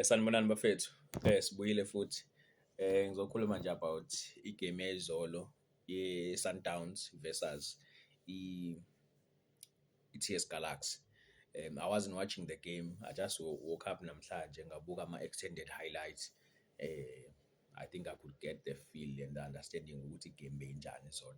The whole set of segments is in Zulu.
Sanibonani bafethu, sibuyile futhi. Ngizokhuluma nje about igemu yayizolo ye-Sundowns versus i-T_S Galaxy. I wasn't watching the game, I just woke up namhlanje ngabuka ama-extended highlights. I think I could get the feel and the understanding ukuthi igemu beyinjani izolo.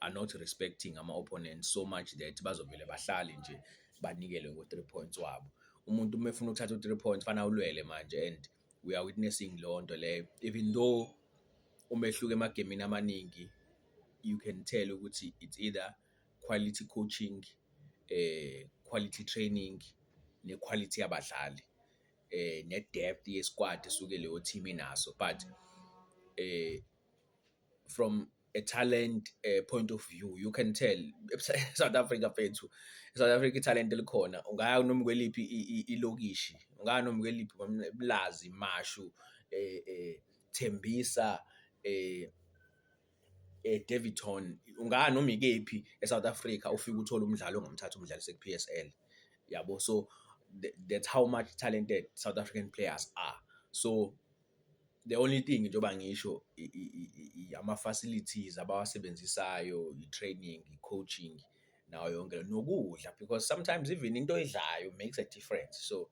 are not respecting ama-opponent so much that bazovele bahlale nje banikele ngo-three points wabo. Umuntu uma efuna ukuthatha u-three points kufanele awulwele manje and we are witnessing leyo nto leyo even though umehluko emagemini amaningi you can tell ukuthi it's either quality coaching eh quality training ne-quality yabadlali eh ne-depth ye-squad esuke leyo team inaso but eh from a talent uh, point of view you can tell South Africa fethu South Africa talent elikhona ungaya noma kweliphi ilokishi ungaya noma kweliphi mlazi mashu eh, eh Thembisa eh eh Davidton ungaya noma ikephi eSouth Africa ufika uthola umdlalo ongamthatha umdlalo sekuPSL yabo so that's how much talented South African players are so The only thing njengoba ngisho ama-facilities abawasebenzisayo, i-training, i-coaching nawo yonke le nto, nokudla because sometimes even into oyidlayo makes a difference. So,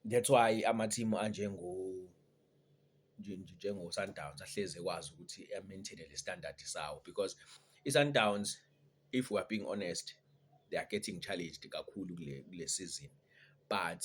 that's why amathimu anjengo njengoSundowns ahlezi ekwazi ukuthi a-maintain-e le standard sawo because iSundowns if we are being honest, they are getting challenged kakhulu kule kule sizini but.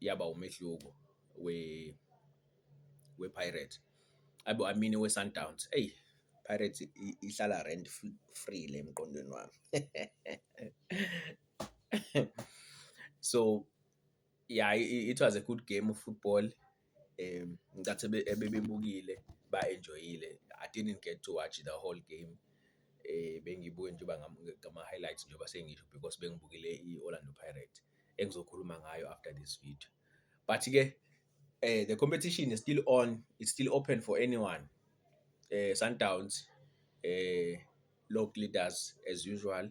yaba umehluko wePirates. Ayi bo I mean weSundowns, eyi Pirates ihlala rent free le emqondweni wami. So, ya it was a good game of football. Ngicathi ebebebukile ba-enjoy-ile I didn't get to watch the whole game, bengiyibuke nje uba ngama-highlights njengoba sengisho because bengibukele i-Orlando Pirates engizokhuluma ngayo after this video. But-ke the competition is still on, it's still open for anyone. Sundowns log leaders as usual,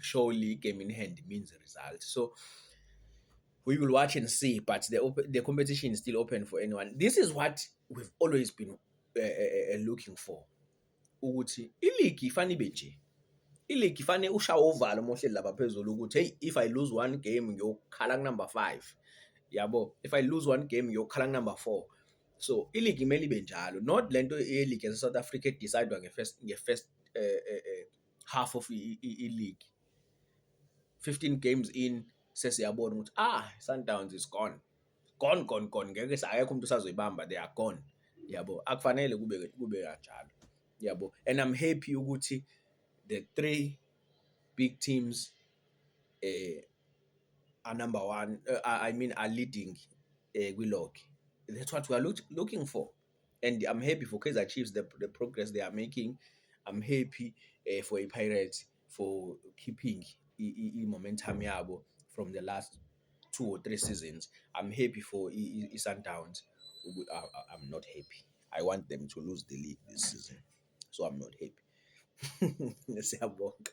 surely game in hand means result. So we will watch and see, but the open, the competition is still open for anyone. This is what we've always been uh, uh, looking for. Ukuthi iligi ifana ibe nje. Iligi ifane ushawa uvalo mohle laba phezulu ukuthi hey if I lose one game ngiyokhala number 5. Yabo, if I lose one game ngiyokhala number 4. So iligi imele ibe njalo, not lento yeligi yase South Africa edecidewa nge first nge first uh, uh, uh, half of i-league 15 games in sesiyabona ukuthi ah Sundowns is gone gone gone gone ngeke akekho umuntu usazoyibamba they are gone yabo akufanele kube kube kanjalo yabo and i'm happy ukuthi the three big teams eh are number one uh, i mean are leading eh kwi-log that's what we are look, looking for and I'm happy for Kaizer Chiefs the, the progress they are making I'm happy uh, for a Pirates for keeping i-momentum yabo from the last two or three seasons I'm happy for i-Sundowns I'm not happy I want them to lose the league this season so I'm not happy siyabonga